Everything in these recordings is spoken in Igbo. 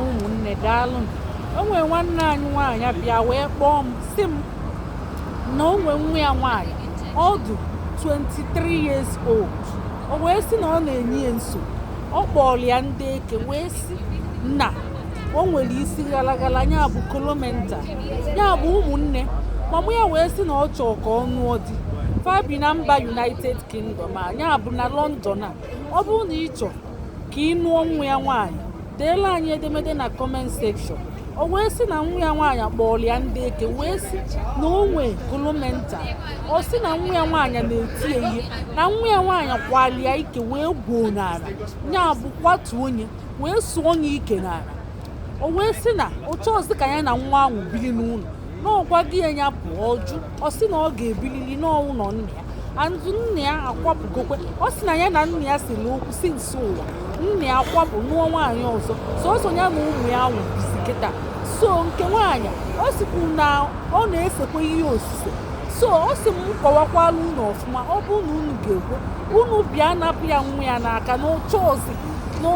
ụmụnne daalụnụ o nwere nwanne anyị nwaanyị bịa wee kpọọ m sị m na o nwee nwa ya nwaanyị ọ dị 23 years old o wee sị na ọ na-enye ya nso ọ kpọrọ ya ndị eke wee sị na o nwere isi ghalaghala ya bụ kolomenta ya bụ ụmụnne mama ya wee sị na ọ chọọ ka ọ nụọ di fa bi na mba united kingdom a ya bụ na london a ọ bụrụ na ị chọọ ka ị nụọ nwa ya nwaanyị deela anyị edemede na comment section o wee sị na nwa ya nwaanyị kpọọlụ ya ndị eke wee sị na o nwee kolomenta ọ sị na nwa ya nwaanyị na-eti ya ihe na nwa ya nwaanyị kwali ya ike wee gwuo n'ala ya bụ kwatu onye wee sụọ onye ike n'ala o wee sị na ọ chọọzi ka ya na nwa ahụ biri n'ụlọ na ọ gwago ya ya pụọ ọ jụ ọ sị na ọ ga-ebilili n'ụnọ nna ya and nna ya akwapụgokwe ọ sị na ya na nna ya selu okwu since ụwa nna ya akwapụ nụọ nwaanyị ọzọ sọsọ ya na ụmụ ya ahụ bizi kịta so nke nwaanyị ọ sịkwu na ọ na-esekwa ihe osise so ọ sị m kọwakwala unu ọfụma ọ bụ na unu ga-ekwe unu bịa napụ ya nwa ya n'aka na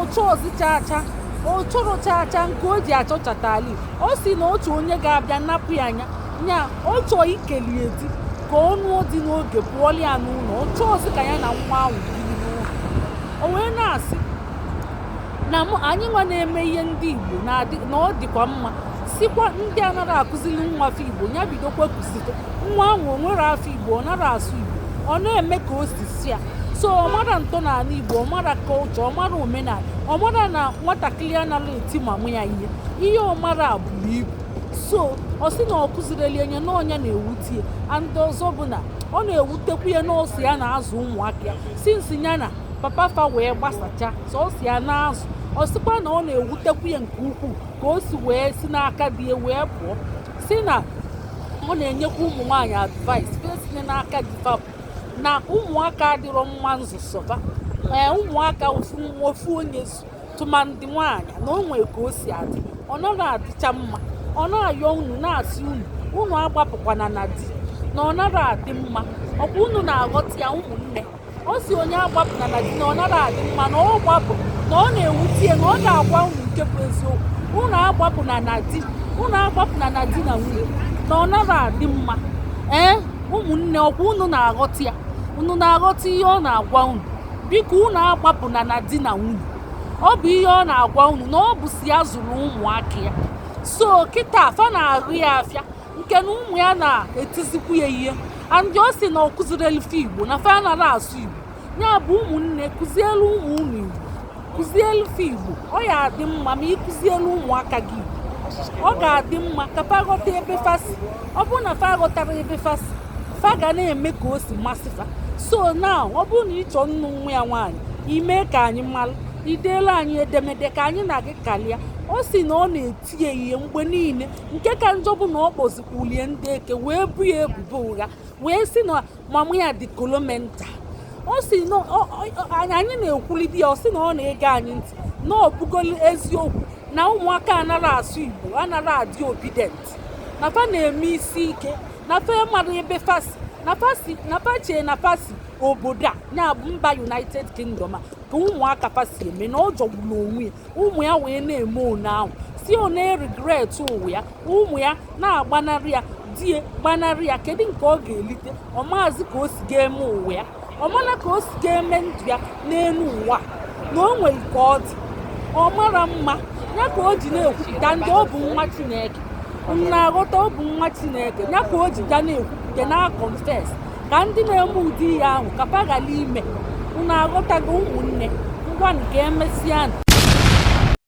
ọ chọọzi chaa chaa ọ chọrọ chaa chaa nke o ji achọchata ala ọ sị na otu onye ga-abịa napụ ya anya nya ọ chọọ ikeli ya di ka ọ nụọ di n'oge pụọlụ ya n'ụlọ ọ chọọzi ka ya na nwa ahụ biri n'ụlọ o wee na-asị na anyị nwa na-eme ihe ndị igbo na ọ dịkwa mma sịkwa ndị anaghị akụziri nwa fa igbo ya bidokwa kụzite nwa ahụ o nwere afọ igbo ọ nara asụ igbo ọ na-eme ka o si sọ ya so ọ mara ntọnala igbo ọ mara culture ọ mara omenala ọ mara na nwatakịrị anaghị eti mama ya ihe ihe ọ mara a buru ibu so ọ sị na ọ kụzirọlị ya nya na ọ nya na-ewute ya and ọzọ bụ na ọ na-ewutekwu ya na ọ sọ ya na-azụ ụmụaka ya since ya na papa fa wee gbasacha sọsọ ya na-azụ ọ sịkwa na ọ na-ewutekwu ya nke ukwuu ka o si wee si n'aka di ya wee pụọ sị na ọ na-enyekwa ụmụ nwaanyị advice fa esina n'aka di fa pụ na ụmụaka adịrọ mma nzụ sọ fa ee ụmụaka ofu nwa ofu onye zụ tụmadị nwaanyị na o nwere ka o si adị ọ naghị adịcha mma ọ na-ayọ unu na-asị unu unu agbapụkwana na di na ọ naghị adị mma ọkwa unu na-aghọta ya ụmụnne ọ sị onye agbapụna na di na ọ naghị adị mma na ọ gbapụ na ọ na-ewute ya na ọ ga-agwa unu nke bụ eziokwu unu agbapụna na di unu agbapụna na di na nwunye na ọ naghị adị mma ee ụmụnne ọkwa unu na-aghọta ya unu na-aghọta ihe ọ na-agwa unu biko unu agbapụna na di na nwunye ọ bụ ihe ọ na-agwa unu na ọ bụ sọ ya zụrụ ụmụaka ya so kịta fa na-arụ ya afịa nke na ụmụ ya na-etizikwu ya ihe and ọ sị na ọ kụzirelu fa igbo na fa anarọ asụ igbo ya bụ ụmụnne kụzielu ụmụ unu igbo kụzielu fa igbo ọ ya adị mma ma ị kụzielu ụmụaka gị igbo ọ ga-adị mma ka fa ghọta ebe fa si ọ bụrụ na fa ghọtara ebe fa si fa ga na-eme ka o si masị fa so na ọ bụrụ na ị chọọ ịnụ nwa ya nwaanyị i mee ka anyị malụ i deelu anyị edemede ka anyị na gị kalịa ọ sị na ọ na-eti ya ihe mgbe niile nke ka njọ bụ na ọ kpọzikwulie ndị eke wee bu ya ebubo ụgha wee sị na mama ya dị kolomental ọ sị na anyị na-ekwulidi ya ọ sị na ọ na-ege anyị ntị na ọ bụgolo eziokwu na ụmụaka anarọ asụ igbo anarọ adị obedient na fa na-eme isi ike na fa amarọ ebe fa si na fa chee na fa si obodo a ya bụ mba united kingdom a ka ụmụaka fa si eme na ọ jọgburu onwe ya ụmụ ya wee na-eme one ahụ sị ọ na-eregret ụwa ya ụmụ ya na-agbanarị ya di ya gbanarị ya kedu nke ọ ga-elite ọ maazị ka o si ga-eme ụwa ya ọ marọ ka o si ga-eme ndụ ya n'elu ụwa na o nwere ka ọ dị ọ mara mma ya ka o ji na-ekwupụta and ọ bụ nwa chineke unu aghọta ọ bụ nwa chineke ya ka o ji ga na-ekwupụta na-aconfess ka ndị na-eme ụdị ihe ahụ ka fa ghara ime unu aghọtago ụmụnne ngwanụ ka emesịa